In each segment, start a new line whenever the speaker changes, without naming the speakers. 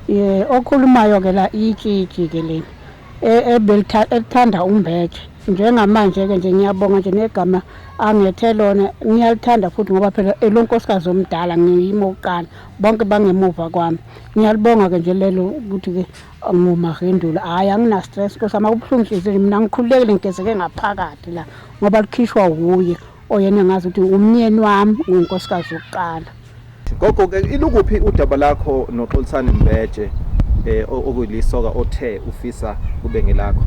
Ye okhulumayo ke la itshitshi ke leli e, elithanda umbethe njengamanje ke nje ngiyabonga nje negama angethe lona ngiyalithanda futhi ngoba phela elonkosikazi omdala ngiyimo uqala bonke bangemuva kwami ngiyalibonga ke nje lelo ukuthi ke ngumahendula hhayi angina stress kosa uma kubuhlungu inhliziyo mina ngikhululekile ngigezeke ngaphakathi la ngoba likhishwa wuye oyena ngazi ukuthi umnyeni wami ngunkosikazi wokuqala gogo ke
ilukuphi udaba lakho noxolisani mbeje eh okulisoka othe ufisa kube ngelakho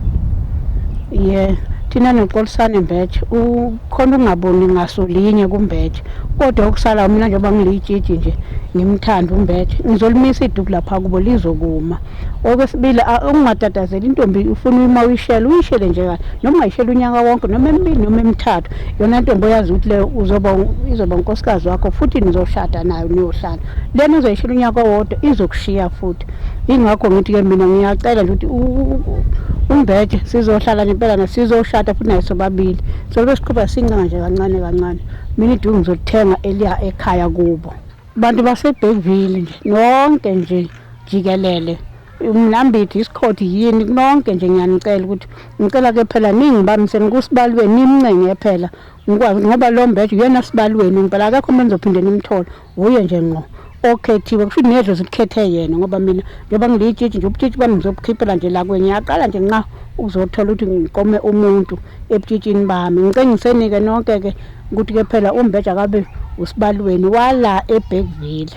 yeah thina
noxolisane mbeje ukhona ungaboni ngaso linye kumbeje kodwa okusala mina njengoba ngilitshitshi nje ngimthanda umbeje ngizolimisa iduku lapha kubo lizokuma okwesibili ukungatatazeli intombi ufuna uma uyishele uyishele nje kahle noma ungayishela unyaka wonke noma emibili noma emithathu yona ntombi oyazi ukuthi leyo uzoba izoba unkosikazi wakho futhi nizoshada nayo niyohlala lena uzoyishela unyaka wodwa izokushiya futhi ingakho ngithi-ke mina ngiyacela nje ukuthi umbeje sizohlala nempelana sizoshada futhi naye sobabili sobe siqhuba sincenga nje kancane kancane mina iduku ngizolithenga eliya ekhaya kubo Bantu baseBergville nje nonke nje jikelele umlambithi isikhodi yini nonke nje ngiyanicela ukuthi ngicela ke phela ningibambiseni kusibalweni nimncenge phela ngikwazi ngoba lo mbeje uyena sibalweni ngempela akekho umuntu engizophinde nimthole wuye nje ngqo okhethiwe kusho ukuthi nedlozi likhethe yena ngoba mina njengoba ngiliyitshitshi nje ubutshitshi bami ngizobukhiphela nje la kwenye ngiyaqala nje nqa ukuzothola ukuthi ngikome umuntu ebutshitshini bami ngicengiseni-ke nonke-ke ukuthi ke phela uMbeja kabe usibalweni wala eBergville.